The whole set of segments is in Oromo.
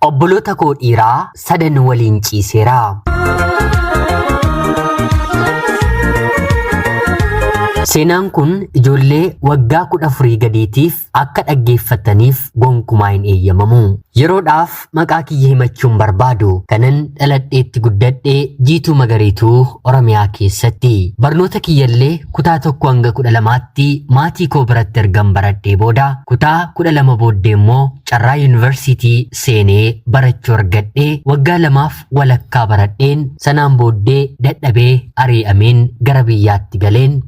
Obboloota koo dhiiraa sadan waliin ciiseera. Seenaan kun ijoollee waggaa kudha afurii gadiitiif akka dhaggeeffataniif gonkumaa hin eeyyamamu. Yeroodhaaf maqaa kiyya himachuun barbaadu kanan dhaladheetti guddadhe jiituu magariituu Oromiyaa keessatti. Barnoota kiyyallee Kutaa 1-12tti maatii koo biratti ergan baradhee booda kutaa 12 booddee immoo carraa yuunivarsiitii seenee barachuu argadhee waggaa lamaaf walakkaa baradheen sanaan booddee dadhabee arii'ameen gara biyyaatti galeen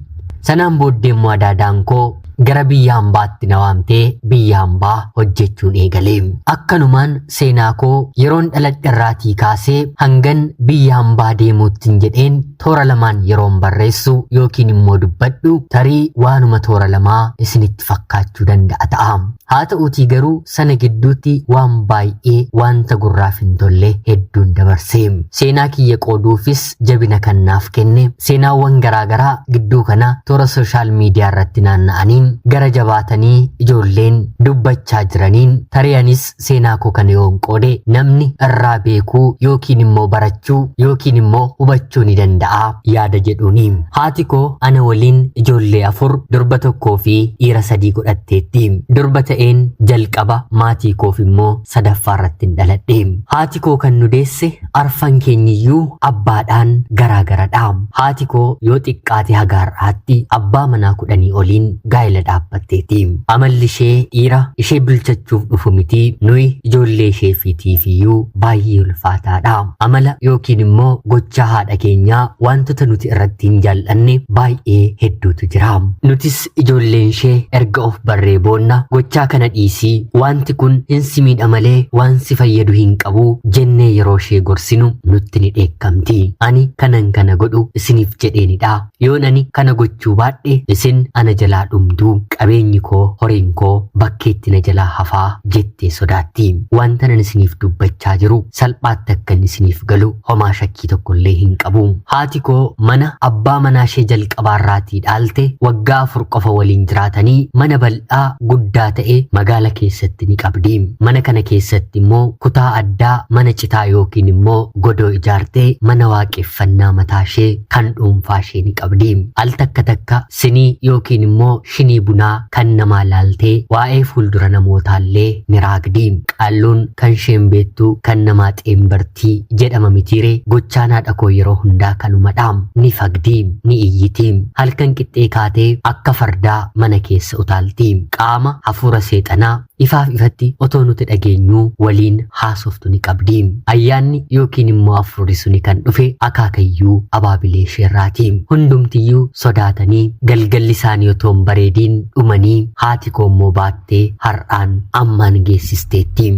sanaan booddee immoo adaadaan koo gara biyya hambaatti na waamtee biyya hambaa hojjechuun eegale. Akkanumaan seenaa koo yeroon dhaladherraatii kaasee hangan biyya hambaa deemuuttiin jedheen Toora lamaan yeroon barreessu yookiin immoo dubbadhu tarii waanuma toora lamaa isinitti fakkaachuu danda'a ta'a. Haa ta'uutii garuu sana gidduutti waan baay'ee wanta gurraaf hin tolle hedduun dabarse. Seenaa kiyya qooduufis jabina kan naaf kenne seenaawwan garaagaraa gidduu kana toora sooshaal miidiyaa irratti naanna'aniin gara jabaatanii ijoolleen dubbachaa jiraniin tarii anis Seenaa koo kana yoon qoode namni irraa beekuu yookiin immoo barachuu yookiin immoo hubachuu ni danda'a yaada jedhuuni. Haati koo ana waliin ijoollee afur durba tokkoo fi dhiira sadii godhatteetti. Durba ta'een jalqaba maatii koof immoo sadaffaa irratti hin dhaladhe. Haati koo kan nu deesse Arfan keenyiyyuu abbaadhaan garaa garadha. Haati koo yoo xiqqaate haga har'aatti abbaa manaa kudhanii oliin gaa'ela dhaabbatteeti. Amalli ishee dhiira ishee bilchachuuf dhufu miti nuyi ijoollee ishee fi tiifiyyuu baay'ee ulfaataadha. Amala yookiin immoo gochaa haadha keenyaa waantota nuti irratti hin jaal'anne baay'ee hedduutu jira. Nutis Akkamitti ijoolleenshee erga of barree boonna gochaa kana dhiisii waanti kun hin si miidha malee waan si fayyadu hin qabu jennee yeroo ishee gorsinu nutti ni dheekkamti. Ani kanan kana godhu isiniif jedheenidha. Yoon ani kana gochuu baadhe isin ana jalaa dhumtu qabeenyi koo horiin koo bakkeetti na jalaa hafaa jettee sodaatti. Wanta nan isiniif dubbachaa jiru salphaatti akkan isiniif galu homaa shakkii tokkollee hin qabu. Haati koo mana abbaa manaa ishee jalqabaarraatii dhaalte waggaa afur qofa waliin jiraatanii mana bal'aa guddaa ta'e magaala keessatti ni qabdi. Mana kana keessatti immoo kutaa addaa mana citaa yookiin immoo godoo ijaartee mana waaqeffannaa mataa ishee kan dhuunfaa ishee ni qabdi. Al takka takka sinii yookiin immoo Shinii bunaa kan namaa laaltee waa'ee fuuldura namootaallee ni raagdi. Qaalluun kan sheen beettu kan namaa xeenbarti jedhama mitiiree? Gochaan haadha koo yeroo hundaa kanumadha. Ni fagdi. Ni iyyiti. Halkan qixxee kaatee akka fardaa mana keessa utaalti. Qaama hafuura seexanaa Ifaaf ifatti otoo nuti dhageenyuu waliin haasoftu ni qabdi. Ayyaanni yookiin immoo afurri suni kan dhufe akaakayyuu abaabilee isheerraati. Hundumtiyyuu sodaatanii galgalli isaanii otoo hin bareediin dhumanii haati koo immoo baattee har'aan ammaan geessisteetti.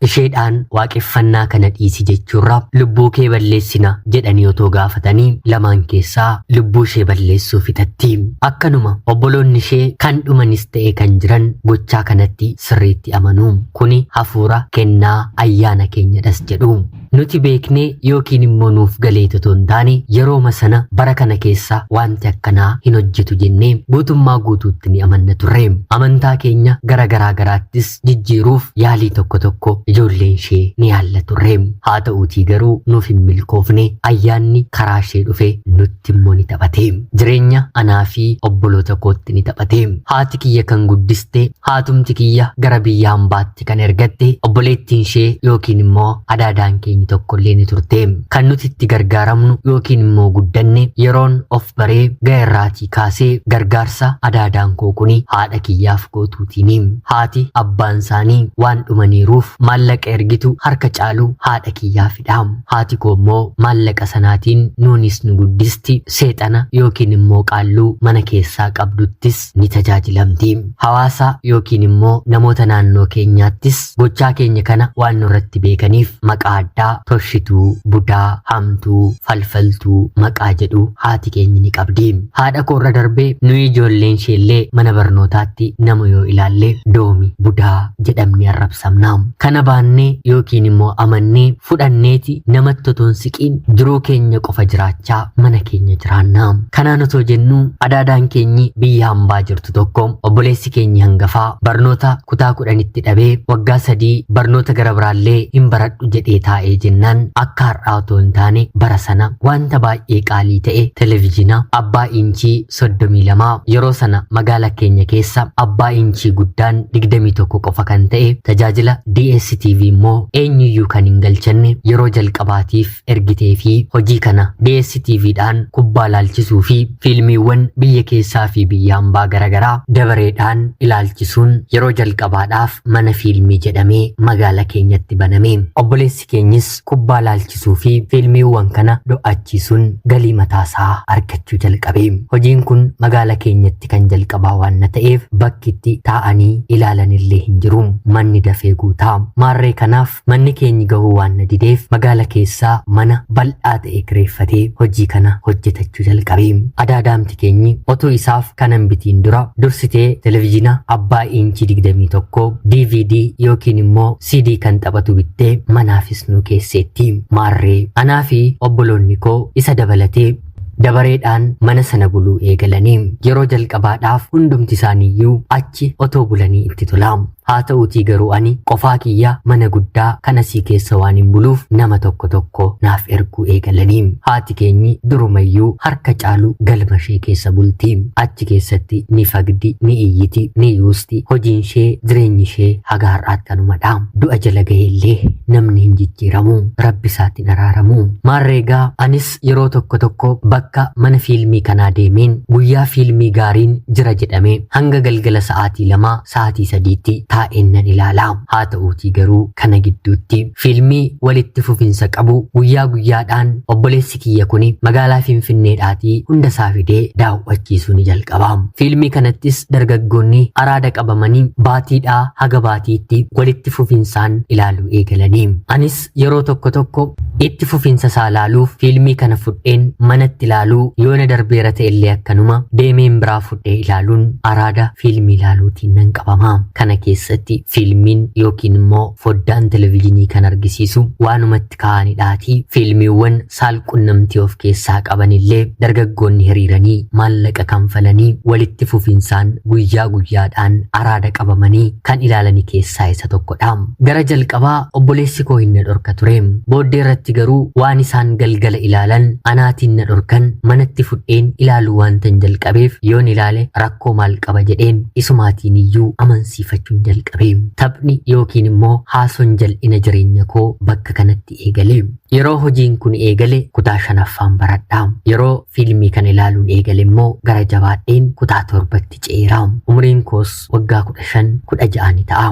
Isheedhaan waaqeffannaa kana dhiisi jechuurra lubbuu kee balleessina jedhanii otoo gaafatanii lamaan keessaa lubbuu ishee balleessuu fixatti. Akkanuma obboloonni ishee kan dhumanis ta'e kan jiran gochaa kanatti sirriitti amanu. Kuni hafuura, kennaa, ayyaana keenyadhas jedhu. Nuti beeknee yookiin immoo nuuf galeet otoo hin taane yerooma sana bara kana keessa wanti akkanaa hin hojjetu jennee guutummaa guutuutti ni amanna turre. Amantaa keenya gara garaa garaattis jijjiiruuf yaalii tokko tokko ijoolleen ishee ni yaalla turre. Haa ta'uutii garuu nuuf hin milkoofne ayyaanni karaa ishee dhufe nutti kootti immoo ni taphate. Jireenya anaa fi obboloota kootti ni taphate. Haati kiyya kan guddiste, haatumti kiyya gara biyya ambaatti kan ergatte, obboleettiin ishee yookiin immoo adaadaan keenya tokko illee ni turte. Kan nuti itti gargaaramnu yookiin immoo guddanne yeroon of baree ga'e irraatii kaasee gargaarsa adaadaan koo kuni haadha kiyyaaf gootuutiini. Haati abbaan isaanii waan dhumaniiruuf maallaqa ergitu harka caalu haadha kiyyaaf dha. Haati koo immoo maallaqa sanaatiin nuunis nu guddisti, seexana yookiin immoo qaalluu mana keessaa qabduttis ni tajaajilamti. Hawaasa yookiin immoo namoota naannoo keenyaattis gochaa keenya kana waan nurratti beekaniif maqaa addaa toshituu, budaa, hamtuu, falfaltuu maqaa jedhu haati keenya ni qabdi. Haadha koo irra darbee nuyi ijoolleen isheellee mana barnootaatti nama yoo ilaalle doomi, budaa jedhamnee arrabsamna. Kana baannee yookiin immoo amannee fudhanneeti namatti otoo hin siqiin jiruu keenya qofa jiraachaa mana keenya jiraanna. Kanaan otoo jennu adaadaan keenyi biyya hambaa jirtu tokko obboleessi keenyi hangafaa barnoota kutaa kudhanitti dhabee waggaa sadii barnoota gara biraallee hin baradhu jedhee taa'ee jennaan akka har'aa otoo hin taane bara sana wanta baay'ee qaalii ta'e televizyiina abbaa inchii 32 yeroo sana magaala keenya keessa abbaa inchii guddaan 21 qofa kan ta'e tajaajila DSTV immoo eenyuyyuu kan hin galchanne yeroo jalqabaatiif ergitee fi hojii kana DSTV dhaan kubbaa laalchisuu fi fiilmiiwwan biyya keessaa fi biyya ambaa garaagaraa dabareedhaan ilaalchisuun yeroo jalqabaadhaaf mana fiilmii jedhamee magaala keenyatti baname obboleessi itti keenyes kubbaa laalchisuu fi fiilmiiwwan kana do'achiisuun galii mataa isaa argachuu jalqabe. Hojiin kun magaala keenyatti kan jalqabaa waanna ta'eef bakki itti taa'anii ilaalanillee hin jiru. Manni dafee guuta. Maarree kanaaf manni keenyi gahuu waanna dideef magaala keessaa mana bal'aa ta'e kireeffatee hojii kana hojjetachuu jalqabe. Adaadaamti keenyi otuu isaaf kana hin bitiin dura dursitee televizhiina abbaa iinchii 21, DVD yookiin immoo CD kan taphatu bittee manaafis nu keesseetti. Maarree anaa fi obboloonni koo isa dabalatee dabareedhaan mana sana buluu eegalanii yeroo jalqabaadhaaf hundumti isaaniiyyuu achi otoo bulanii itti tola. Haa ta'uutii garuu ani qofaa kiyya mana guddaa kan asii keessa waan hin buluuf nama tokko tokko naaf erguu eegalanii. Haati keenyi durumayyuu harka caalu galma ishee keessa bulti. Achi keessatti ni fagdi, ni iyyiti, ni yuusti. jirti. Hojiin ishee, jireenyi ishee haga har'aatti kanuma dha. Du'a jala gahee illee namni hin jijjiiramu. Rabbi isaatti hin araaramu. Maarree egaa anis yeroo tokko tokko bakka mana fiilmii kanaa deemeen guyyaa fiilmii gaariin jira jedhame hanga galgala sa'aatii lamaa sa'aatii sadiitti taa'een nan ilaala. Haa ta'uutii garuu kana gidduutti fiilmii walitti fufinsa qabu guyyaa guyyaadhaan obboleessi Obboleessi kiyya kuni magaalaa Finfinneedhaatii hunda isaa fidee daawwachiisuu ni jalqaba. Fiilmii kanattis dargaggoonni araada qabamanii baatiidhaa haga baatiitti walitti fufinsaan ilaaluu eegalanii. Anis yeroo tokko tokko itti fufinsa isaa ilaaluuf fiilmii kana fudheen manatti ilaaluu yoo na darbeera ta'ellee akkanuma deemeen biraa fudhee ilaaluun araada fiilmii ilaaluutiin nan qabama. Kana keessatti fiilmiin yookiin immoo foddaan televezyiinii kan argisiisu waanuma irratti ka'anidhaati. Fiilmiiwwan saal-qunnamtii of keessaa qabanillee dargaggoonni hiriiranii maallaqa kanfalanii walitti fufinsaan guyyaa guyyaadhaan araada qabamanii kan ilaalani keessaa isa tokkodha. Gara jalqabaa obboleessi koo hin na dhorka ture. Booddee irratti garuu waan isaan galgala ilaalan anaatiin na dhorkan manatti fudheen ilaaluu waantan jalqabeef yoon ilaale rakkoo maal qaba jedheen isumaatiin iyyuu amansiifachuun jalqabe. Prim. Taphni yookiin immoo haasoon jal'ina jireenya koo bakka kanatti eegale. Yeroo hojiin kun eegale kutaa shanaffaan baradha. Yeroo fiilmii kana ilaaluun eegale immoo gara jabaadheen kutaa torbatti ce'eera. Umriin koos waggaa kudha shan kudha ja'a ni ta'a.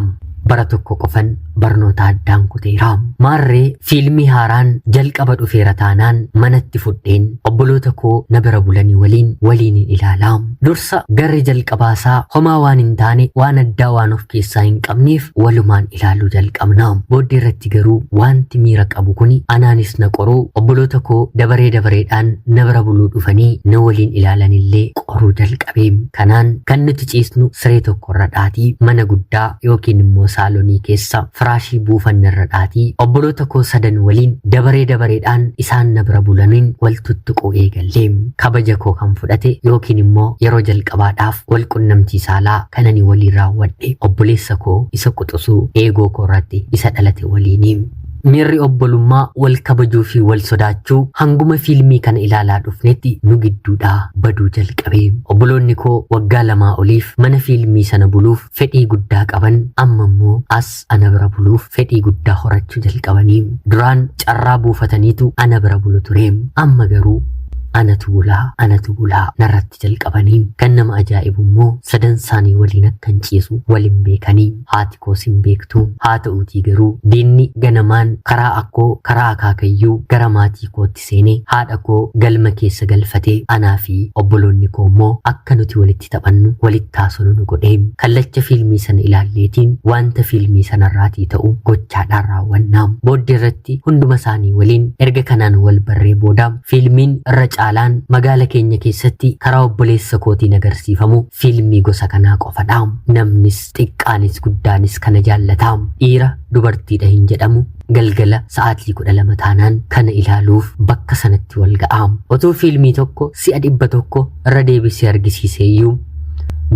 Bara tokko qofan barnoota addaan kuteera. Maarree Fiilmii haaraan jalqaba dhufeera taanaan manatti fudheen obboloota koo na bira bulanii waliin waliinin ilaala. Dursa garri jalqabaasaa homaa waan hin taane waan addaa waan of keessaa hin qabneef walumaan ilaaluu jalqabna. Booddee irratti garuu wanti miira qabu kuni anaanis na qoruu obboloota koo dabaree dabareedhaan na bira buluu dhufanii na waliin ilaalanillee qoruu jalqabe. Kanaan kan nuti ciisnu siree tokkorra dhaatii mana guddaa yookiin immoo saalonii keessa firaashii buufanne irra dhaatii obboloota koo sadan waliin dabaree dabareedhaan isaan na bira bulaniin wal tuttuquu eegalle. Kabaja koo kan fudhate yookiin immoo yeroo jalqabaadhaaf wal qunnamtii saalaa kan ani waliin raawwadhe obboleessa koo isa quxusuu eegoo koo irratti isa dhalate waliini. Miirri obbolummaa wal kabajuu fi wal sodaachuu hanguma fiilmii kana ilaalaa dhufnetti nu gidduudhaa baduu jalqabe. Obboloonni koo waggaa lamaa oliif mana fiilmii sana buluuf fedhii guddaa qaban amma immoo as ana bira buluuf fedhii guddaa horachuu jalqabanii duraan carraa buufataniitu ana bira bulu ture amma garuu anatu bulaa anatu bulaa narratti jalqabanii kan nama ajaa'ibu immoo sadan isaanii waliin akkan ciisu waliin beekanii haati koos hin beektu haa ta'uutii garuu diinni ganamaan karaa akkoo karaa akaakayyuu gara maatii kootti seene haadha koo galma keessa galfate anaa fi obboloonni koo immoo akka nuti walitti taphannu walitti haasonu nu godhe kallacha fiilmii sana ilaalleetiin wanta fiilmii sanarraatii ta'u gochaadhaan raawwanna booddee irratti hunduma isaanii waliin erga kanaan wal barree booda fiilmiin irra caalaan magaala keenya keessatti karaa obboleessa kootiin agarsiifamu fiilmii gosa kanaa qofadha namnis xiqqaanis guddaanis kana jaallata dhiira dubartiidha hin jedhamu galgala sa'aatii 12 taanaan kana ilaaluuf bakka sanatti wal ga'a. Otuu fiilmii tokko si'a 100 irra deebisee argisiiseeyyuu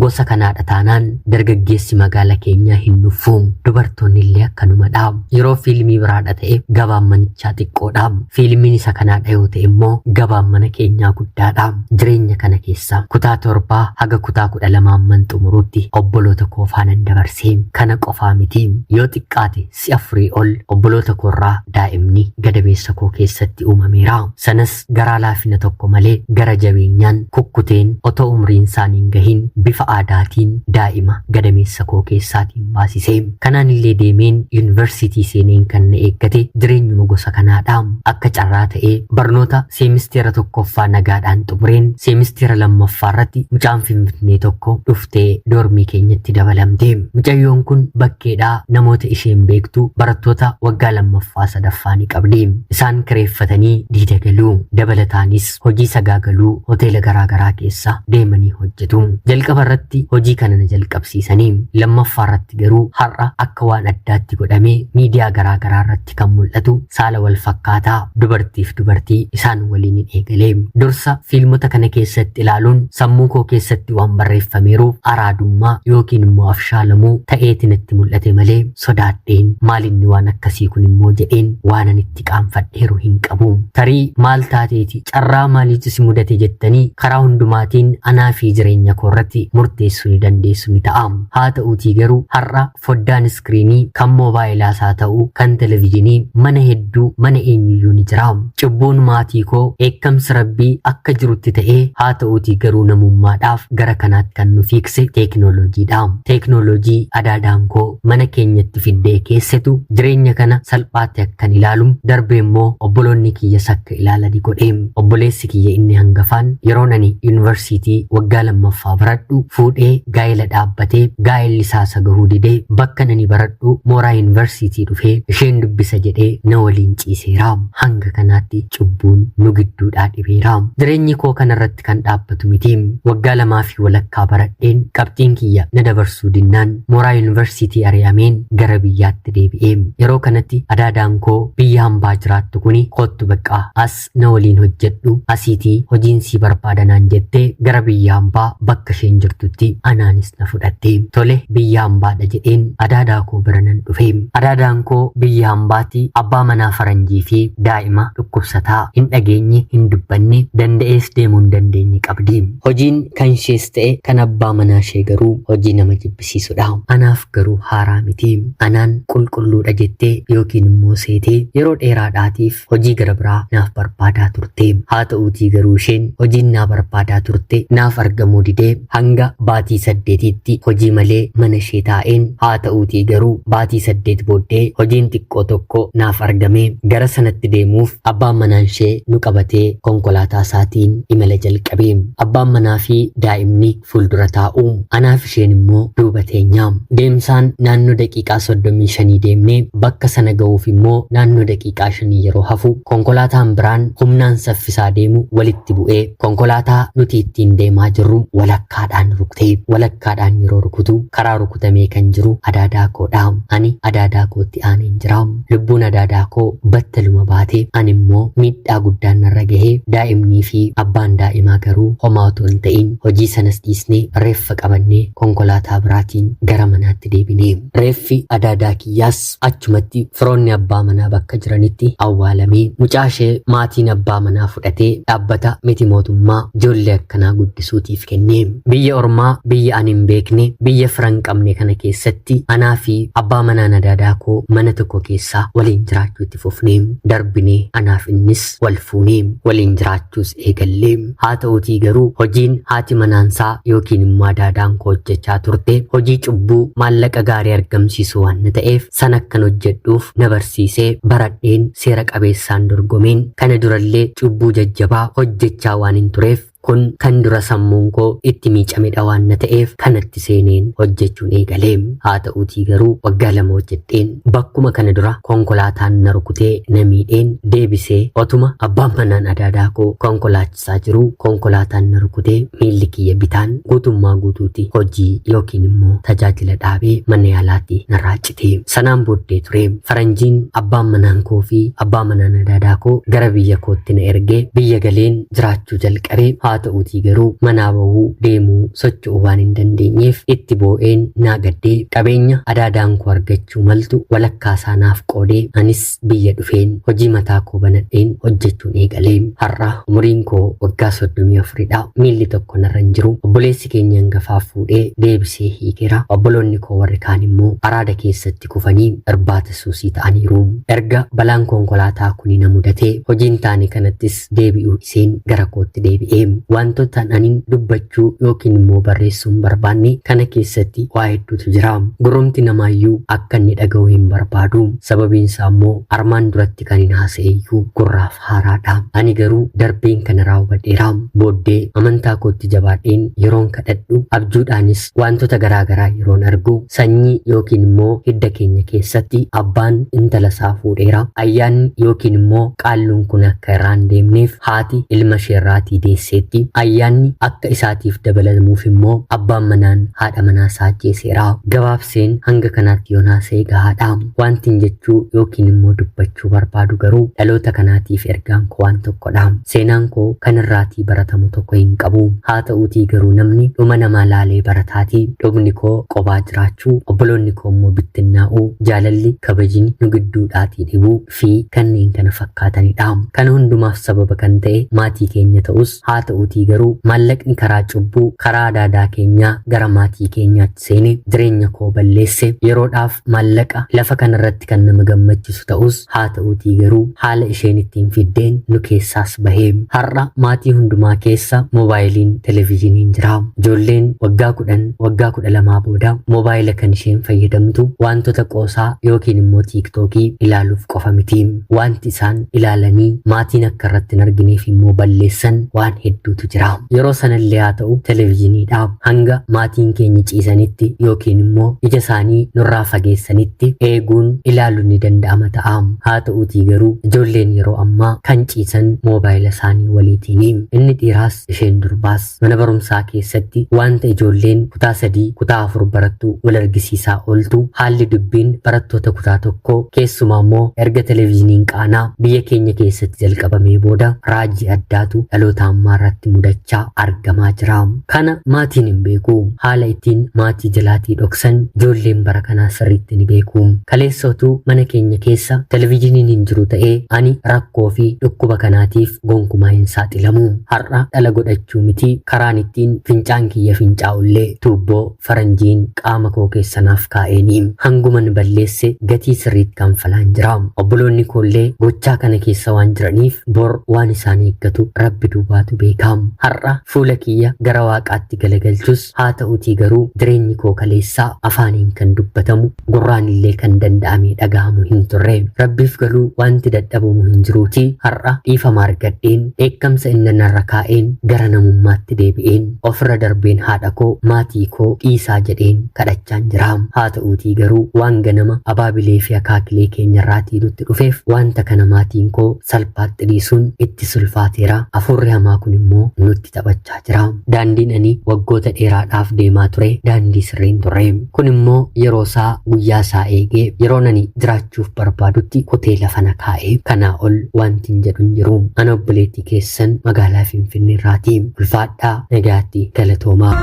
gosa kanaadha taanaan dargaggeessi magaala keenyaa hin nuffu. Dubartoonni illee akkanumadha. Yeroo fiilmii biraadha ta'e gabaan manichaa xiqqoodha. Fiilmiin isa kanaadha yoo ta'e immoo gabaan mana keenyaa guddaadha. Jireenya kana keessa kutaa torbaa haga kutaa kudha lamaa amman xumuruutti obboloota koo faanan dabarse. Kana qofaa miti. Yoo xiqqaate si afurii ol obboloota koo irraa daa'imni gadameessa koo keessatti uumameera. Sanas garaa laafina tokko malee gara jabeenyaan kukkuteen otoo umriin isaanii hin gahin bifa aadaatiin daa'ima gadameessa koo keessaatiin baasise. Kanaan illee deemeen yuunivarsiitii seeneen kan na eeggate jireenyuma gosa kanaadha. Akka carraa ta'ee barnoota seemisteera tokkoffaa nagaadhaan xumureen seemisteera lammaffaa irratti mucaan finfinnee tokko dhufte. dhuftee doormii keenyatti dabalamte. Mucayyoon kun bakkeedhaa namoota isheen beektu barattoota waggaa lammaffaa sadaffaa ni qabdi. Isaan kireeffatanii diida galu. Dabalataanis hojii sagaagaluu hoteela garaagaraa keessa deemanii hojjetu. Jalqaba irratti hojii kana na jalqabsiisanii lammaffaa irratti garuu har'a akka waan addaatti godhamee miidiyaa garaagaraa irratti irratti kan mul'atu saala wal fakkaataa dubartiif dubartii isaan waliin hin eegale. Dursa fiilmota kana keessatti ilaaluun sammuu koo keessatti waan barreeffameeruuf araadummaa yookiin immoo afshaalamuu ta'eeti natti mul'ate malee sodaadheen maalinni waan akkasii kun immoo jedheen waanan itti qaanfadheeru hin qabu. Tarii maal taateeti carraa maaliitu si mudate jettanii karaa hundumaatiin anaa fi jireenya koo irratti murteessuu ni dandeessu ni ta'a. Haa ta'uutii garuu har'a foddaan iskiriinii kan moobaayilaas haa ta'u kan televizhinii mana hedduu mana eenyuyyuu ni jira. Cubbuun maatii koo dheekkamsi rabbii akka jirutti ta'ee haa ta'uutii garuu namummaadhaaf gara kanaatti kan nu fiikse teeknooloojiidha. Teeknooloojii adaadaan koo mana keenyatti fiddee keessatu jireenya kana salphaatti akkan ilaalu darbee immoo obboloonni kiyyas akka ilaalani godhe. Obboleessi kiyya inni hangafaan yeroon ani yunivarsiitii waggaa lammaffaa baradhu fuudhee gaa'ela dhaabbatee gaa'elli isaa isa gahuu didee bakka nani baradhu mooraa yunivarsiitii dhufee isheen dubbisa jedhee na waliin ciiseera. Hanga kanaatti cubbuun nu gidduudhaa dhibeera. Jireenyi koo kanarratti irratti kan dhaabbatu miti. Waggaa lamaa fi walakkaa baradheen qabxiin kiyya na dabarsuu dinnaan mooraa yuunivarsiitii ari'ameen gara biyyaatti deebi'e. Yeroo kanatti adaadaan koo biyya hambaa jiraattu kuni koottu baqqaa as na waliin hojjedhu asiitii hojiin sii barbaada naan jettee gara biyya hambaa bakka isheen jirtutti anaanis na fudhatte. Tole biyya ambaadha jedheen adaadaa koo bira nan dhufe. Adaadaan koo biyya ambaati abbaa manaa faranjii fi daa'ima dhukkubsataa hin dhageenye hin dubbanne danda'ees deemuu hin dandeenye qabdi. Hojiin kan ishees ta'e kan abbaa manaa ishee garuu hojii nama jibbisiisudha. Anaaf garuu haaraa miti. Anaan qulqulluudha jettee yookiin immoo seetee yeroo dheeraadhaatiif hojii gara biraa naaf barbaadaa turte. Haa ta'uutii garuu isheen hojiin naa barbaadaa turte naaf argamuu didee Hanga baatii saddeetiitti hojii malee mana ishee taa'een haata'uutii garuu baatii saddeet booddee hojiin xiqqoo tokko naaf argame. Gara sanatti deemuuf abbaan manaanshee nu qabatee konkolaataa isaatiin imala jalqabe. Abbaan manaafi daa'imni fuuldura taa'u. Anaafi isheen immoo duuba teenya. Deemsaan naannoo daqiiqaa soddomii shanii deemne. Bakka sana ga'uuf immoo naannoo daqiiqaa shanii yeroo hafu konkolaataan biraan humnaan saffisaa deemu walitti bu'ee Konkolaataa nuti ittiin deemaa jirru walakkaadhaan rukute. Walakkaadhaan yeroo rukutu karaa rukutamee kan jiru adaadaa koodha. Ani adaadaa kootti aaneen jira. Lubbuun adaadaa koo battaluma baate. Ani immoo miidhaa guddaan narra gahe. Daa'imnii fi abbaan daa'imaa garuu homaa otoo hin ta'in hojii sanas dhiisnee reeffa qabannee konkolaataa biraatiin gara manaatti deebine. Reeffi adaadaa kiyyaas Achumatti firoonni abbaa manaa bakka jiranitti awwaalamee mucaa ishee maatiin abbaa manaa fudhatee dhaabbata miti mootummaa ijoollee akkanaa guddisuutiif kenne. Biyya ormaa biyya ani hin beekne biyya fira hin qabne kana keessatti anaa fi abbaa manaa nadaadaa koo mana tokko keessa waliin jiraachuu itti fufne. Darbinee anaaf innis wal fuune. Waliin jiraachuus eegallee. Haa ta'uutii garuu hojiin haati manaansaa yookiin immoo adaadaan koo hojjechaa turte hojii cubbuu maallaqa gaarii argamsiisu waan ta'eef san akkan hojjedhuuf na barsiisee baradheen seera qabeessaan dorgomeen kana durallee cubbuu jajjabaa hojjechaa waan hin tureef kun kan dura sammuun koo itti miicamedha waan na ta'eef kanatti seeneen hojjechuun eegale. Haa ta'uutii garuu waggaa lama hojjedheen bakkuma kana dura konkolaataan na rukutee na miidheen deebisee otuma abbaan manaan adaadaa koo konkolaachisaa jiru konkolaataan na rukutee miilli kiyya bitaan guutummaa guutuutti hojii yookiin immoo tajaajila dhaabee mana yaalaatti narraa cite. Sanaan booddee ture faranjiin abbaan manaan koo fi abbaa manaan adaadaa koo gara biyya kootti na ergee biyya galeen jiraachuu jalqabe haa ta'uutii garuu manaa bahuu deemuu socho'uu waan hin dandeenyeef itti boo'een naa gaddee qabeenya adaadaan koo argachuu maltu walakkaa isaa naaf qoodee anis biyya dhufeen hojii mataa koo banadheen hojjechuun eegale har'a umuriin koo waggaa soddomii afuridha miilli tokko narra hin jiru obboleessi keenya hangafaa fuudhee deebisee hiikeera obboloonni koo warri kaan immoo araada keessatti kufanii irbaata suusii ta'aniiru erga balaan konkolaataa kuni na mudatee hojiin taane kanattis Itoophiyaatti deebi'uu dhiseen gara kootti deebi'e. Wantoota anin dubbachuu yookiin immoo barreessuu hin barbaanne kana keessatti waa hedduutu jira. Gurrumti namaayyuu akka inni dhaga'u hin barbaadu. Sababiin isaa immoo armaan duratti kan hin haasa'eyyuu gurraaf haaraadha. Ani garuu darbeen kana raawwadheera. Booddee amantaa kootti jabaadheen yeroon kadhadhu abjuudhaanis Wantoota garaa garaa yeroon argu sanyii yookiin immoo hidda keenya keessatti abbaan intala isaa fuudheera. Ayyaanni yookiin immoo qaalluun kun akka irraa hin deemneef haati ilma ishee irraatii deesseetti. Ayyaanni akka isaatiif dabalamuuf immoo abbaan manaan haadha manaa isaa ajjeeseera. Gabaabseen hanga kanaatti yoon haasa'e gahaadha. Wantin jechuu yookiin immoo dubbachuu barbaadu garuu dhaloota kanaatiif ergaan koo waan tokkodha. Seenaan koo kan irraatii baratamu tokko hin qabu. Haa ta'uutii garuu namni dhuma namaa laalee barataati. Dhumni koo qobaa jiraachuu, obboloonni koo immoo bittinnaa'uu, jaalalli, kabajni nu gidduudhaatii dhibuu fi kanneen kana fakkaatanidha. Kana hundumaaf sababa kan ta'e maatii keenya ta'us haa ta'uutii garuu maallaqni karaa cubbuu, karaa adaadaa keenyaa gara maatii keenyaatti seene jireenya koo balleesse yeroodhaaf maallaqa lafa kanarratti kan nama gammachisu ta'us haa ta'uutii garuu haala isheen ittiin fiddeen nu keessaas bahee har'a maatii hundumaa keessa moobaayiliin televiizhiniin jira ijoolleen waggaa kudhan waggaa kudha lamaa booda moobaayila kan isheen fayyadamtu wantoota qoosaa yookiin immoo tiiktookii ilaaluuf qofa miti wanti isaan ilaalanii maatiin akka irratti hin argineef immoo balleessan waan hedduutu jira yeroo sanallee haa ta'u televiizhiniidha hanga maatiin keenya ciisanitti yookiin immoo ija isaanii nurraa fageessanitti eeguun ilaaluun ni danda'ama ta'a. Haa ta'uutii garuu ijoolleen yeroo ammaa kan ciisan moobaayila isaanii waliitiini. Inni dhiiraas isheen durbaas mana barumsaa keessatti wanta ijoolleen kutaa sadii kutaa afur barattu wal argisiisaa ooltu haalli dubbiin barattoota kutaa tokko keessumaa immoo erga televezyiiniin qaanaa biyya keenya keessatti jalqabamee booda raajii addaatu dhaloota ammaa irratti mudachaa argamaa jira. Kana maatiin hin beeku. Haala ittiin maatii jalaatii dhoksan ijoolleen bara kanaa sirriitti ni beeku. Kaleessa utuu mana keenya keessa televizhiniin hin jiru ta'ee ani rakkoo fi dhukkuba kanaatiif gonkumaa hin saaxilamu. Har'a dhala godhachuu miti karaan ittiin fincaan kiyya fincaa'ullee tuubboo Faranjiin qaama koo keessa naaf kaa'eeni. Hanguman balleesse gatii sirriitti kanfalaan jira. Obboloonni koollee gochaa kana keessa waan jiraniif bor waan isaan eeggatu Rabbi duwwaatu beeka. Har'a fuula kiyya gara Waaqaatti galagalchus haa ta'utii garuu jireenyi koo kaleessaa afaaniin kan dubbatamu gurraanillee kan danda'amee dhagahamu hin turre rabbiif galuu wanti dadhabamu hin jiruuti har'a dhiifama argadheen dheekkamsa inni narra kaa'een gara namummaatti deebi'een ofirra darbeen haadha koo maatii koo dhiisaa jedheen kadhachaan jira haa ta'uutii garuu waan ganama abaabilee fi akaakilee keenyarraatii nutti dhufeef wanta kana maatiin koo salphaatti dhiisuun itti sulfaateera afuurri hamaa kun immoo nutti taphachaa jira. Daandiin ani waggoota dheeraadhaaf deemaa ture daandii sirriin ture. Kun immoo yeroo isaa guyyaa isaa eegee yeroon ani jiraachuuf barbaadutti kutee lafa na kaa'e. Kanaa ol wanti hin jedhu hin jiru. Ana obboleettii keessan magaalaa Finfinnee irraati. Ulfaadhaa nagaatti galatoomaa.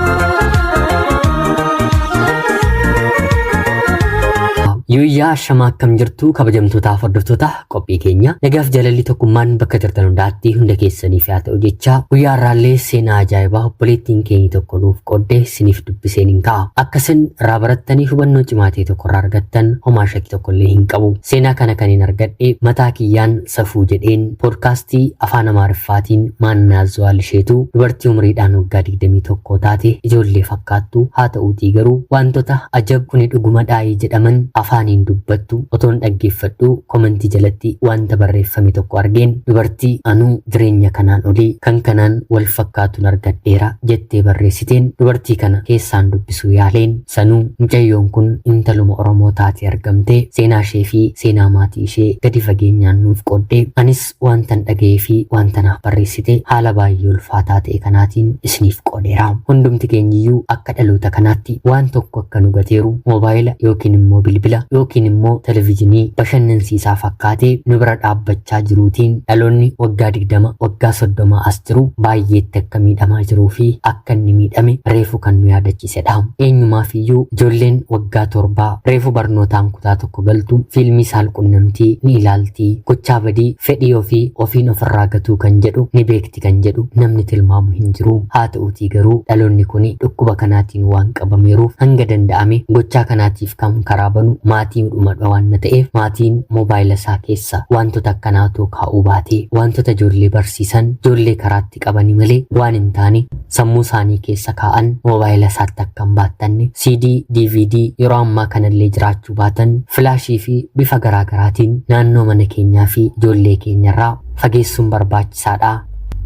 Yuuyyaa shamaa akkam jirtu kabajamtootaaf hordoftoota Qophii keenya nagaaf jaalalli tokkummaan bakka jirtan hundaatti hunda keessaniif haa ta'u jecha guyyaa irraallee seenaa ajaa'ibaa obboleettiin keenyi tokko nuuf qoodde siniif dubbiseen hin ka'a. Akka isin irraa barattanii hubannoo cimaa ta'e tokko irraa argattan homaa shakkii tokko illee hin qabu. Seenaa kana kan hin argadhe mataa kiyyaan safuu jedheen poodkaastii afaan Amaariffaatiin maannaa Zuwaal isheetu dubartii umriidhaan waggaa 21 taate ijoollee fakkaattu haata'uutii garuu waantota ajab kuni dhugumadhaayi jedhaman afaaniin dubbattu otoon dhaggeeffadhuu komentii jalatti waanta barreeffame tokko argeen dubartii anuu jireenya kanaan olii kan kanaan wal fakkaatun argadheera jettee barreessiteen dubartii kana keessaan dubbisuu yaaleen sanuu mucayyoon kun intaluma oromoo taatee argamte seenaashee fi seenaa maatii ishee gadi fageenyaan nuuf qoodde anis waantan dhaga'ee fi waanta naaf barreessite haala baay'ee ulfaataa ta'e kanaatiin isiniif qoodeera. Hundumti keenyiyyuu akka dhaloota kanaatti waan tokko akka nu gateeru moobaayila yookiin immoo bilbila yookiin immoo televizhinii bashannansiisaa fakkaatee nu bira dhaabbachaa jiruutiin dhaloonni waggaa 20 waggaa 30 as jiru baay'eetti akka miidhamaa jiruu fi akka inni miidhame reefu kan nu yaadachiisu barsiisedha. Eenyumaafiyyuu ijoolleen waggaa torbaa reefu barnootaan kutaa tokko galtu fiilmii saalqunnamtii ni ilaalti. Gochaa badii fedhii ofii ofiin ofirraa gatuu kan jedhu ni beekti kan jedhu namni tilmaamu hin jiru. Haata'uutii garuu dhaloonni kun dhukkuba kanaatiin waan qabameeruuf hanga danda'ame gochaa kanaatiif kan karaa banu maatiidhumadha waanna ta'eef maatiin moobaayila isaa keessa waantota akkanaa otoo kaa'uu baatee waantota ijoollee barsiisan ijoollee karaatti qabani malee waan hin taane sammuu isaanii keessa kaa'an moobaayila isaatti akka hin baattanne CD, DVD yeroo ammaa kanallee jiraachuu baatan filaashii fi bifa garaa garaatiin naannoo mana keenyaa fi ijoollee keenyarraa fageessuun barbaachisaadha.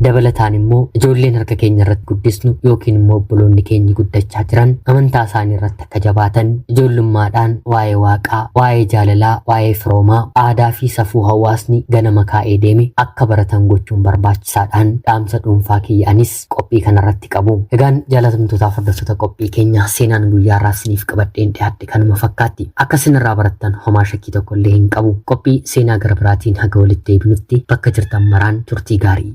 Dabalataan immoo ijoolleen harka keenya irratti guddisnu yookiin immoo obboloonni keenyi guddachaa jiran amantaa isaanii irratti Akka jabaatan ijoollummaadhaan waa'ee Waaqaa, waa'ee jaalalaa, waa'ee firoomaa, aadaa fi safuu hawaasni ganama kaa'ee deeme akka baratan gochuun barbaachisaadhaan dhaamsa dhuunfaa kiyya anis qophii kanarratti qabu. Egaan jaalatamtootaaf hordoftoota qophii keenya seenaan guyyaa irraa isiniif qabadheen dhiyaadhe kanuma fakkaatti. Akka isin irraa barattan homaa shakkii tokko illee hin qabu. Qophii seenaa gara biraatiin haga walitti deebinutti bakka jirtan maraan turtii gaarii.